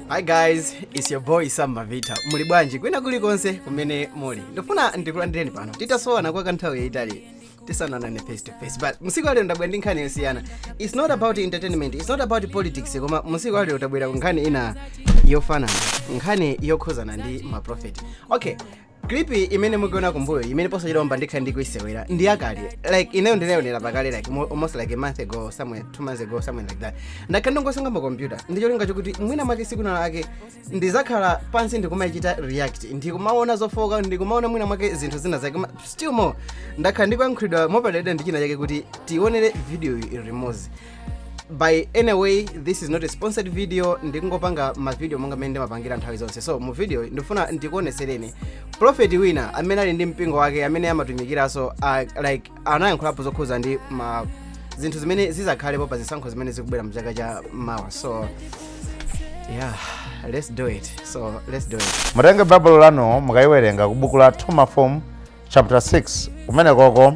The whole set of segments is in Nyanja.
hi guys its your boy samba vita muli bwanji kwina kulikonse kumene muli ndifuna ndikulandireni pano titasowana kwa kanthawi yayitali tisananane face to face but musiku alero ndabwera ndi nkhani yosiyana its not about entertainment its not about politics koma musiku alero tabwera ndi nkhani ina yofanana nkhani yokhuzana ndi maprophet okay clip imene mukuona kumbuyo imene posachedwapa ndikhala ndikuisewera ndi yakale like ineyo ndinaionera pakale like mo- almost like a month ago somewhere two months ago something like that ndakhala ndikusunga pa computer ndi cholinga chokuti mwina mwake siku lina lake ndizakhala pansi ndikumaichita react ndikumaona zofoka ndikumaona mwina mwake zinthu zina zake koma still more ndakhala ndikuyankhulidwa mopadalira ndi china chake kuti tionere video iyi limozi by any way this is not a sponsored video ndikungopanga mavideo monga mmene ndimapangira nthawi zonse so mu video iyi ndifuna ndikuonesereni profeti wina amene ali ndi mpingo wake amene amatumikira so uh, like anayankhulapo zokhuza ndi ma zinthu zimene zizakhalepo pa zisankho zimene zikubwera mu chaka cha mawa so yeah let's do it so let's do it mutenge baibulo lanu mukayiwerenge ku buku la 2 mafumu chapter 6 kumene koko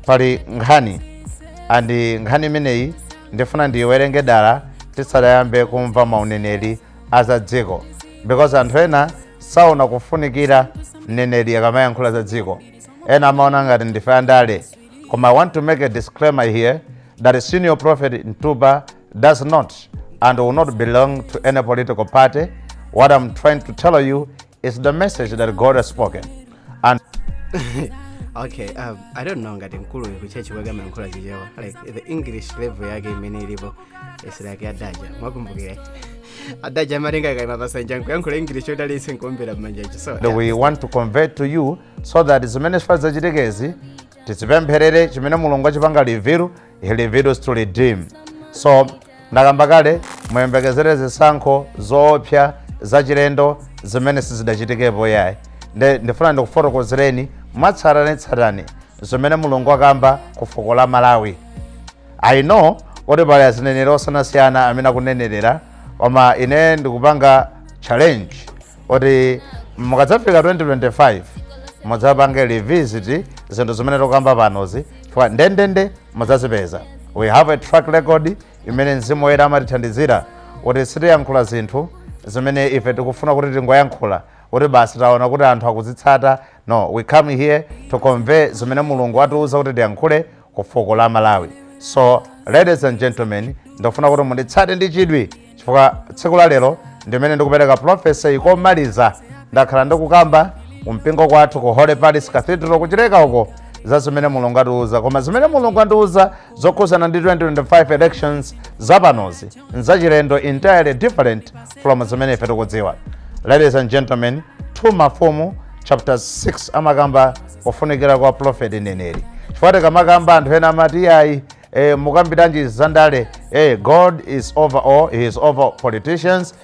pali nkhani andi nkhani imeneyi ndifuna ndiyiwerenge dala tisadayambe kumva mauneneri aza dziko because anthu ena saona kufunikira mneneri akamayankhula za dziko ena amaona ngati ndife andale koma i want to make a disclaimer here that a senior prophet mtupa does not and will not belong to any political party what i'm trying to tell you is the message that god has spoken and okay um, i don't know ngati mkuluyu kuchechi kwake amayankhula chichewa like the english level yake imene ilipo is like ya adaja mwakumbukira adaja amatenga kaima pasanja nkuyankhula english yotalitsa nkuombera mmanja chi so we want to convey to you so that zimene zifuna dzachitikezi tizipempherere chimene mulungu achipanga reveal he reveals to redeem so ndakamba kale muyembekezere zisankho zoopsa zachilendo zimene sizidachitikepo yayi nde ndifuna ndikufotokozereni mwatsatanetsatane zimene mulungu akamba ku fuko la malawi i know kuti pali azineneri osiyanasiyana amene akunenerera koma ine ndikupanga challenge kuti mukadzafika 2025 mudzapange revisit zinthu zimene tikukamba panozi chifukwa ndendende mudzazipeza we have a track record imene mzimu woyera amatithandizira kuti sitiyankhula zinthu zimene ife tikufuna kuti tingoyankhula kuti basi taona kuti anthu akuzitsata no we come here to convey zimene mulungu atiuza kuti tiyankhule ku fuko la malawi so ladies and gentlemen ndikufuna kuti munditsate ndi chidwi chifukwa tsiku la lero ndimene ndikupereka profesi iyi komaliza ndakhala ndikukamba kumpingo kwathu ku holy palace cathedral kuchileka uko za zimene mulungu atiuza koma zimene mulungu andiuza zokhudzana ndi 2025 elections zapanozi nzachilendo entirely different from zimene ife tikudziwa ladies and gentlemen 2 mafumu chapter 6 amakamba kufunikira kwa prophet neneri chifukwa tikamakamba anthu ena amati ayi eh, mukambiranji zandale eh, god is over all he is over politicians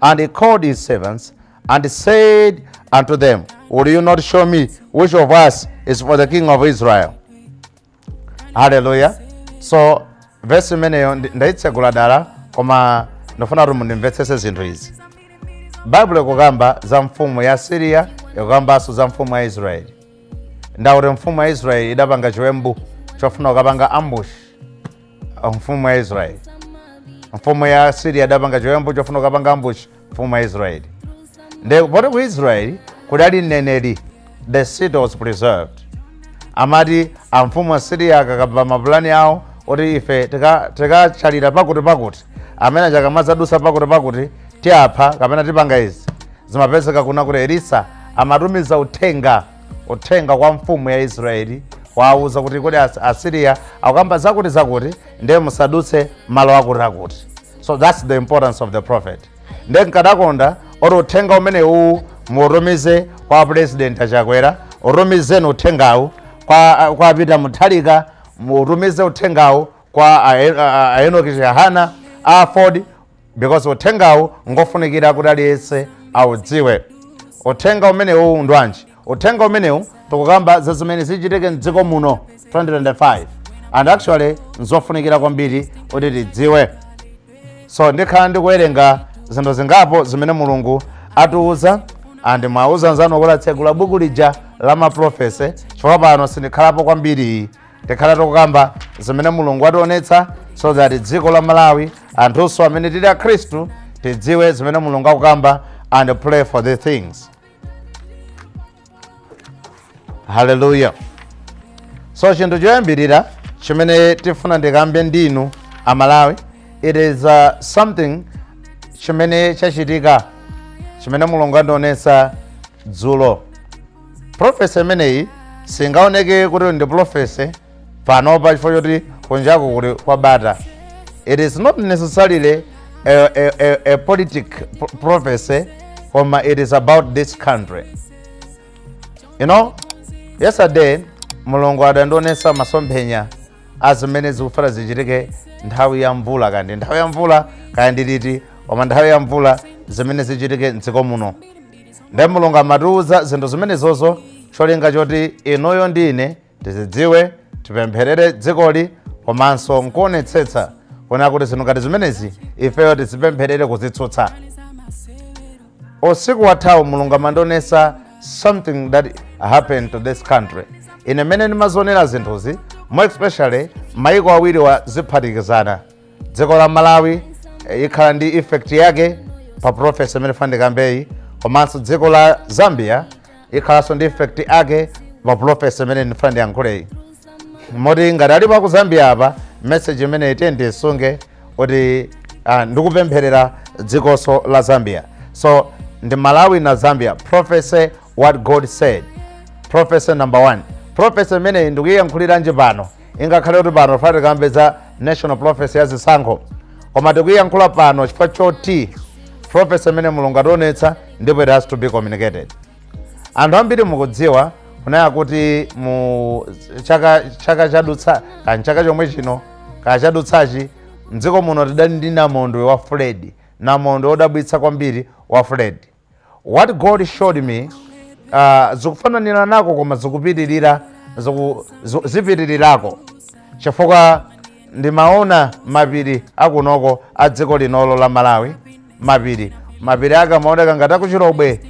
And he called his servants and said unto them, Will you not show me which of us is for the king of Israel? Hallelujah. So verse imeneyo ndi- ndaitsegula dala koma ndifuna kuti mundimvetsese zinthu izi. Baibulo ikukamba za mfumu ya Asiriya ikukambanso za mfumu ya Israeli. Nde akuti mfumu ya Israeli idapanga chiwembu chofuna kukapanga ambushi mfumu ya israeli mfumu ya asiriya idapanga chiwembu chofuna kukapanga ambushi mfumu ya israeli nde poti ku israeli kudali mneneri the city was preserved amati amfumu a asiriya akakamba mapulani awo oti ife tika- tikachalira pakuti pakuti amene akamadzadutsa pakuti pakuti tiapha kapena tipanga izi zimapezeka kuna kuti elisa amatumiza uthenga uthenga kwa mfumu ya israeli kuwauza kuti kodi As- asiriya akukamba zakuti zakuti ndiye musadutse malo akuti akuti so thats the importance of the prophet ndiye nkadakonda oti uthenga umene uwu mutumize kwa president a chakwera utumizeni uthengawu kwa, kwa peter muthalika mutumize uthengawu kwa a- a- a- a enoki chihana a aford because uthengawu ngofunikira kuti aliyense audziwe uthenga umenewu ndwanji uthenga umenewu tikukamba za zimene zichitike mdziko muno 2025 and actually nzofunikira kwambiri kuti tidziwe so ndikhala ndikuwerenga zinthu zingapo zimene mulungu atiuza and muwauze anzanu kuti atsegula buku lija la maprofesi chifukwa pano sindikhalapo kwambiri tikhala tikukamba zimene mulungu wationetsa so that dziko la malawi anthunso amene tili akhristu tidziwe zimene mulungu akukamba and pray for the things haleluya so chinthu choyambirira chimene tifuna ndikambe ndinu amalawi it is uh, something chimene chachitika chimene mulungu andionetsa dzulo prophecy imeneyi singaoneke kuti ndi prophecy panopa chifukwa choti kunjaku kuli kwabata it is not necessarily a, a, a, a politic pro- prophecy koma it is about this country you know yesterday mulungu adandionesa masomphenya azimene zikufuna zichitike nthawi ya mvula kaya ndi nthawi ya mvula kaya ndi liti koma nthawi ya mvula zimene zichitike mdziko muno nde mulungu amatiuza zinthu zimenezozo cholinga choti inuyo ndi ine tizidziwe tipempherere dzikoli komanso nkuonetsetsa kuona kuti zinthu ngati zimenezi ifeyo tizipempherere kuzitsutsa usiku wathawu mulungu amandionesa something that happened to this country ine mmene ndimazionera zinthuzi more especially maiko awiriwa ziphatikizana dziko la malawi eh, ikhala ndi effect yake pa prophecy imene ndifuna ndikambeyi komanso dziko la zambia ikhalanso ndi effect yake pa prophecy imene ndifuna ndiyankhuleyi moti ngati alipo aku zambia apa message imeneyi muisunge kuti ah, ndikupempherera dzikonso la zambia so ndi malawi and zambia prophecy what god said prophecy number one prophecy imeneyi ndikuyiyankhuliranji pano ingakhale kuti pano tifuna tikambe za national prophecy ya zisankho koma tikuyiyankhula pano chifukwa choti prophecy imene mulungu ationetsa ndipo it has to be communicated anthu ambiri mukudziwa kunena kuti mu chaka chaka chadutsa kani chaka chomwe chino kaya chadutsachi mdziko muno tidali ndi namondwe wa freddy namondwe odabwitsa kwambiri wa freddy What God showed me uh, zikufananiranako koma zikupitirira ziku, zi- zipitirirako chifukwa ndimaona mapiri akunoko a dziko linolo la malawi mapiri mapiri ake amaoneka ngati aku chilobwe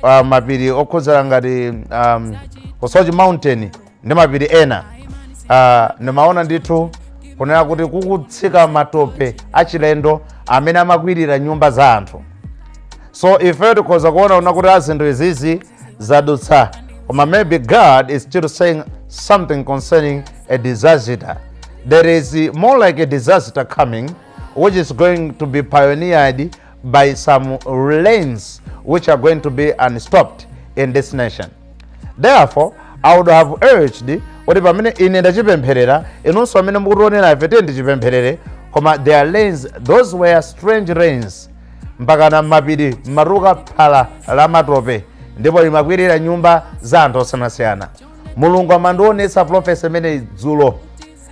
uh, mapiri okhudzera ngati um, ku soche mountain ndi mapiri ena ah, ndimaona ndithu kunena kuti kukutsika matope achilendo amene amakwirira nyumba za anthu so ifeyo tikhoza kuona kunena kuti ah zinthu izizi zadutsa koma maybe god is still saying something concerning a disaster there is more like a disaster coming which is going to be pioneered by some rains which are going to be unstopped in this nation. Therefore, I would have urged kuti pamene ine ndachipempherera inunso amene mukutionera ife tiyeni tichipempherere koma the rains those were strange rains mpakana mmapiri mumatuluka phala la matope ndipo limakwirira nyumba za anthu osiyanasiyana mulungu amandionetsa prophecy imeneyi dzulo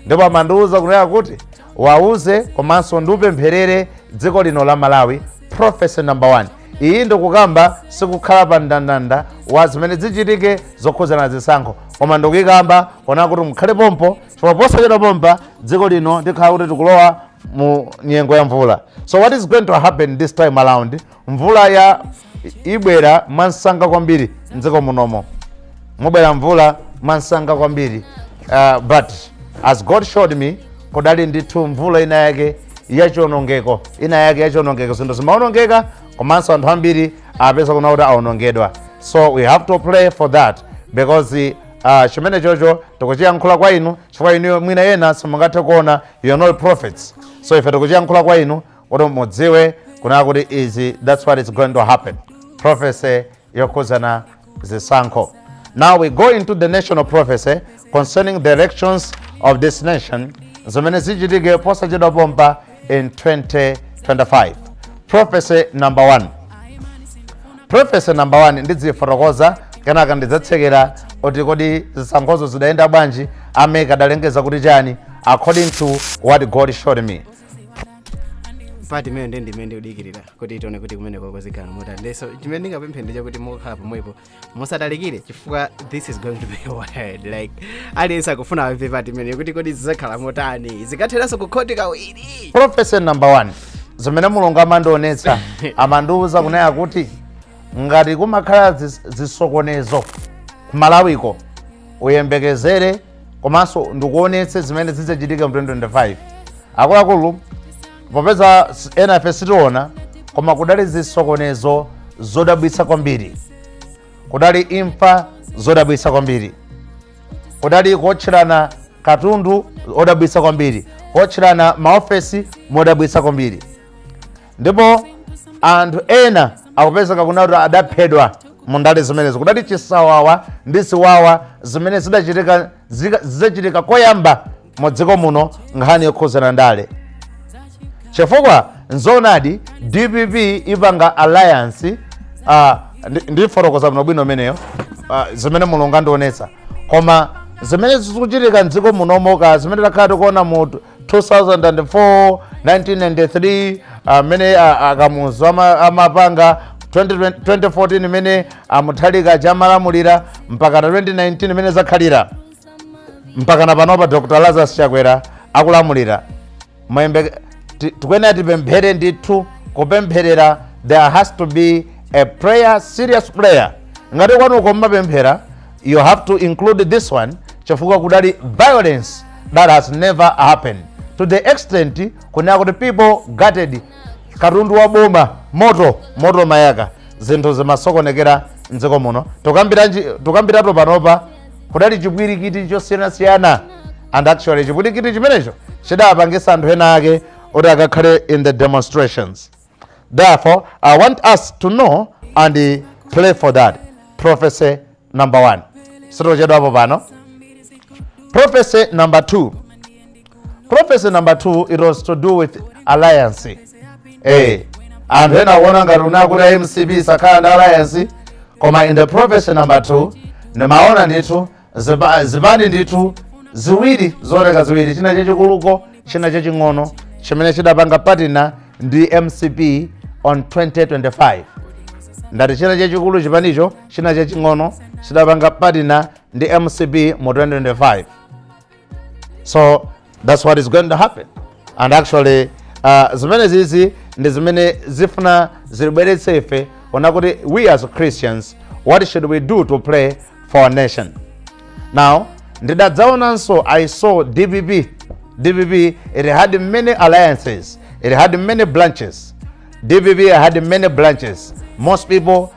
ndipo amandiwuza kunena kuti wawuze komanso ndiupempherere dziko lino la malawi prophecy number 1 iyi ndikukamba sikukhala pa mndandanda wa zimene zichitike zokhudzana ndi zisankho koma ndikuyikamba kunena kuti mukhale pompo chifukwa posachedwa pompa dziko lino tikhala kuti tikulowa mu nyengo ya mvula so what is going to happen this time around mvulayi ibwera mwansanga kwambiri mdziko munomo mubwera mvula mwansanga kwambiri uh, but as god showed me kudali ndithu mvula ina yake yachionongeko ina yake yachionongeko zinthu zimaonongeka komanso anthu ambiri apezeka kunena kuti aonongedwa so we have to pray for that because uh, chimenechocho tikuchiyankhula kwa inu chifukwa inu mwina ena simungathe kuona you are not prophets so ife tikuchiyankhula kwa inu kuti mudziwe kunena kuti izi that's what is going to happen prophecy yokhuzana zisankho now we go into the national prophecy concerning the elections of this nation zimene zichitike posachedwa pompa in 2025 prophecy number one prophecy number 1 ndidzifotokoza kenaka ndidzatsekera kuti kodi zisankhozo zidayenda bwanji a MEC adalengeza kuti chani according to what god showed me part imeneyo ndi imene mukudikirira kuti tione kuti kumeneko zikhala motani ndiyeso chimene ndingapemphe ndi chakuti mukakhala pomwepo musatalikire chifukwa this is going to be wild like aliyense akufuna amve part imeneyo kuti kodi zidzakhala motani zikatheranso kukhoti kawiri prophecy number one zimene mulungu amandionetsa amandiuza kunena kuti ngati kumakhala zis- zisokonezo kumalawiko uyembekezere komanso ndikuonetse zimene zidzachitika mu 2025 akuluakulu popeza s- ena ife sitiona koma kudali zisokonezo zodabwitsa kwambiri kudali imfa zodabwitsa kwambiri kudali kuotcherana katundu modabwitsa kwambiri kuotcherana maofesi modabwitsa kwambiri ndipo anthu ena akupezeka kunena kuti adaphedwa mu ndale zimenezo kudali chisawawa ndi ziwawa zimene zidachitika zika- zidzachitika koyamba mu dziko muno nkhani yokhuzana ndale chifukwa nzoonadi dpp ipanga alliance uh, ndi- ndifotokoza bwino bwino imeneyo uh, zimene mulungu andionetsa koma zimene zikuchitika mdziko munomo ka zimene takhala tikuona mu 2004 1993 amene a- akamuzu ama- amapanga 2020 2014 imene a Mutharika akhala amalamulira mpakana 2019 imene zakhalira mpakana panopa dr lazarus chakwera akulamulira Mayembe- ti- tikuyenera tipemphere ndithu kupempherera there has to be a prayer serious prayer ngati kwanuko mmapemphera you have to include this one chifukwa kudali violence that has never happened to the extent kunena kuti people gutted katundu wa boma moto moto mayaka zinthu zimasokonekera mdziko muno tukambiratu panopa kudali chipwirikiti chosiyanasiyana and actually chipwirikiti chimenecho chidapangisa anthu ena ake kuti akakhale in the demonstrations Therefore, I want us to know and uh, pray for that. Prophecy number one. Sitochedwa hapo pano. Prophecy number two. Prophecy number two, it was to do with alliance. Hey, and then I want to unakuta MCB sakhala ndi alliance koma in the prophecy number two ndimaona ndithu zipani ndithu ziwiri zooneka ziwiri china chachikuluko china chaching'ono chimene chidapanga patina ndi mcp on 2025 ndati china chachikulu chipanicho china chaching'ono chidapanga patina ndi mcp mu 2025 so that's what is going to happen and actually uh, zimene zizi ndi zimene zifuna zilibweretse ife ona kuti we as christians what should we do to pray for our nation now ndidadzaonanso i saw dpp dpp it had many alliances it had many branches dpp had many branches most people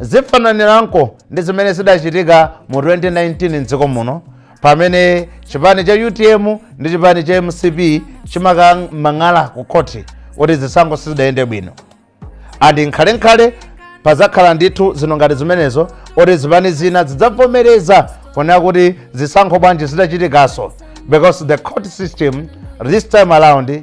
Zifananiranko ndi zimene zidachitika mu 2019 m'dziko muno pamene chipani cha utm ndi chipani cha mcp chimakamang'ala ku khoti kuti zisankho sizidayende bwino and nkhalenkhale pazakhala ndithu zinthu ngati zimenezo kuti zipani zina zidzavomereza kunena kuti zisankho bwanji zidachitikanso because the court system this time around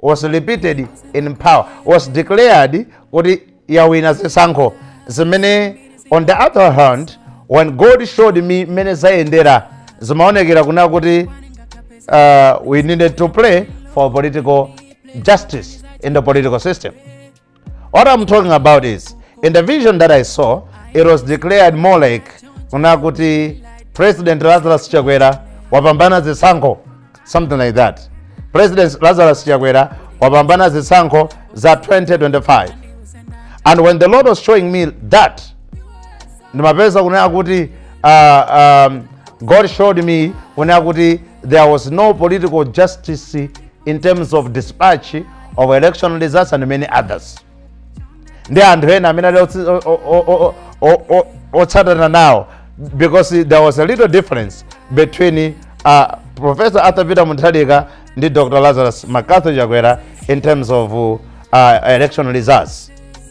was repeated in power was declared kuti yawina zisankho zimene on the other hand when god showed me mmene zayendera zimaonekera kuna kuti uh, we needed to play for political justice in the political system What I'm talking about is, in the vision that I saw, it was declared more like kuna kuti President Lazarus Chakwera wapambana zisankho, something like that. President Lazarus Chakwera wapambana zisankho za 2025. And when the Lord was showing me that, ndimapeza kunena kuti God showed me kunena kuti there was no political justice in terms of dispatch of election results and many others ndi anthu ena amene ali otsi- o- o- o- o- o- otsatana nawo because there was a little difference between uh, professor arthur peter munthalika ndi dr lazarus macarthur chakwera in terms of uh, election results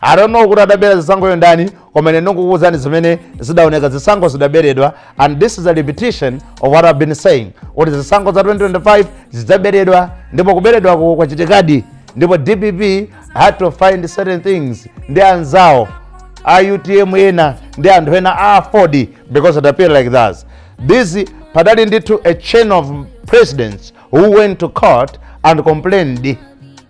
i don't know kuti adabera zisankho yo ndani koma ine ndikukuwuzani zimene zidaoneka zisankho zidaberedwa and this is a repetition of what i've been saying kuti zisankho za 2025 zidzaberedwa ndipo kuberedwako kwachitikadi ndipo dpp had to find certain things ndi anzawo a utm ena ndi anthu ena a aford because it appeared like that this padali ndithu a chain of presidents who went to court and complained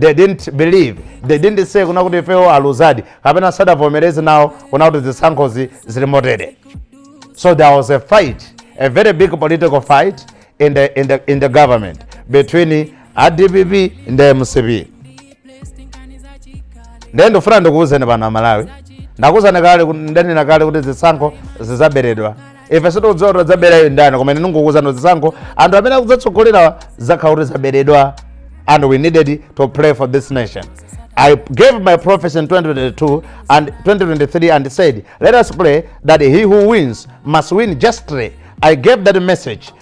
they didn't believe they didn't say kuna kuti ifewo aluzadi kapena sadavomereze nawo kuna kuti zisankho zili motere so there was a fight a very big political fight in the government between a dpp ndi mcp ndiye ndifuna ndikuwuzeni pano amalawi ndakuwuzani kale ndanena kale kuti zisankho zizaberedwa ife sitikudziwa kuti adzaberayo ndani koma ine ndingokuuzani zisankho anthu amene akudzatsogolera zakhala kuti zaberedwa and we needed to pray for this nation I gave my prophecy in 2022 and 2023 and said, Let us pray that he who wins must win justly. I gave that message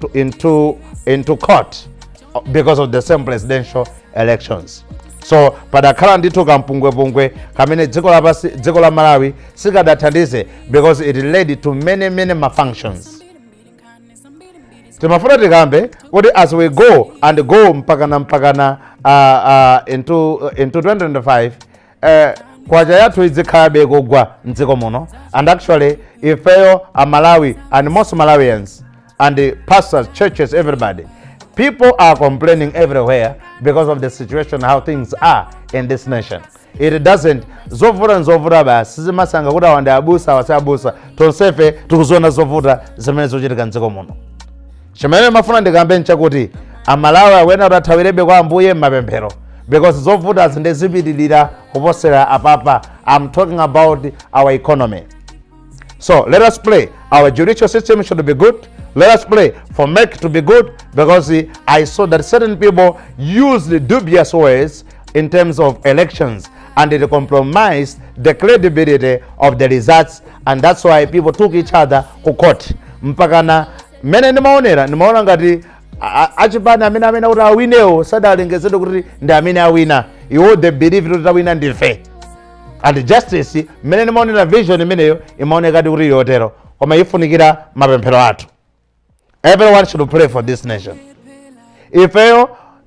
to, into, into court uh, because of the same presidential elections so padakhala ndithu kampungwepungwe kamene dziko lapasi dziko la malawi sikadathandize because it led to many many malfunctions timafuna tikambe kuti as we go and go mpakana mpakana uh, uh, into, into 2025 eh, kwacha yathu idzikhalabe kugwa mdziko muno and actually ifeyo amalawi and most malawians and the pastors churches everybody people are complaining everywhere because of the situation how things are in this nation it doesn't zovuta ndi zovuta basi sizimasankha kuti awa ndi abusa awa si abusa tonsefe tikuziona zovuta zimene zikuchitika mdziko muno chimene ndimafuna ndikambe nchakuti amalawi akuyenera kuti athawirebe kwa ambuye m'mapemphero because zovuta zindizipitirira kuposera apapa i'm talking about our economy so let us pray our judicial system should be good let us pray for mec to be good because i saw that certain people used dubious ways in terms of elections and it compromised the credibility of the results and that's why people took each other ku court mpakana mmene ndimaonera ndimaona ngati a- a- achipani amene amene kuti awinewo sadalengezedwe kuti ndi amene awina iwo they believe kuti tawina ndife and justice mmene ndimaonera vision imeneyo imaonekadi kuti ili yotero koma ifunikira mapemphero athu everyone should pray for this nation ifeyo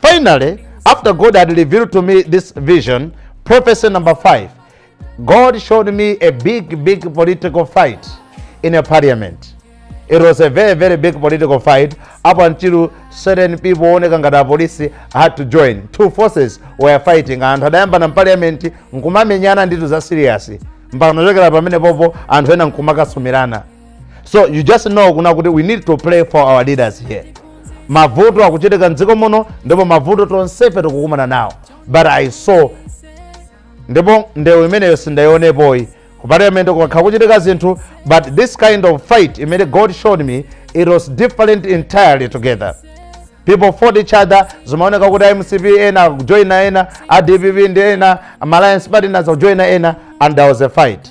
Finally, after God had revealed to me this vision, prophecy number five, God showed me a big, big political fight in a parliament. It was a very, very big political fight up until certain people oneka ngati apolisi had to join. Two forces were fighting. Anthu adayamba na parliament nkumamenyana nditu za serious. Mpaka nachokera pamene popo anthu ena nkumakasumirana. so you just know kuna kuti we need to pray for our leaders here mavuto akuchitika mdziko muno ndipo mavuto tonsefe tikukumana nawo but i saw ndipo ndewu imeneyo sindayionepoyi ku parliament kumakhala kuchitika zinthu but this kind of fight imene god showed me it was different entirely together people fought each other zimaoneka kuti mcp ena kujoina ena a dpp ndi ena alliance partners kujoina ena and there was a fight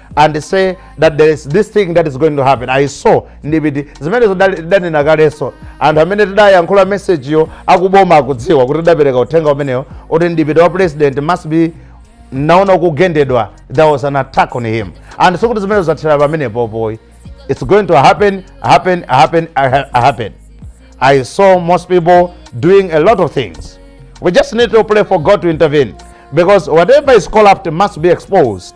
and say that there is this thing that is going to happen i saw mdipiti zimenezo danena kalenso anthu amene tidayankhula mesejiyo akuboma akudziwa kuti tidapereka uthenga umenewo kuti mdipiti wa president must be unaona kugendedwa there was an attack on him and so kuti zimenezo zathera pamenepo poyi it's going to happen happen happen happen i saw most people doing a lot of things we just need to pray for god to intervene because whatever is corrupt must be exposed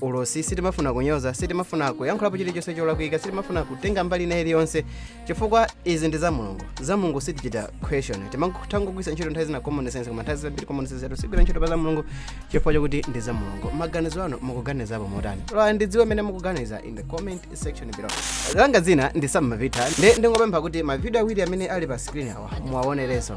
ulosi sitimafuna kunyoza sitimafuna kuyankhulapo chilichonse cholakwika sitimafuna kutenga mbali ina iliyonse chifukwa izi ndi za mulungu za mulungu sitichita question timangogwiritsa ntchito nthawi zina common sense koma nthawi zambiri common sense yathu sigwira ntchito pa za mulungu chifukwa chakuti ndi za mulungu maganizo anu mukuganizapo motani lola ndidziwe mmene mukuganiza in the comment section below langa dzina ndi sam mavita ndi ndingopempha kuti mavidiyo awiri amene ali pa screen awa muwaonerenso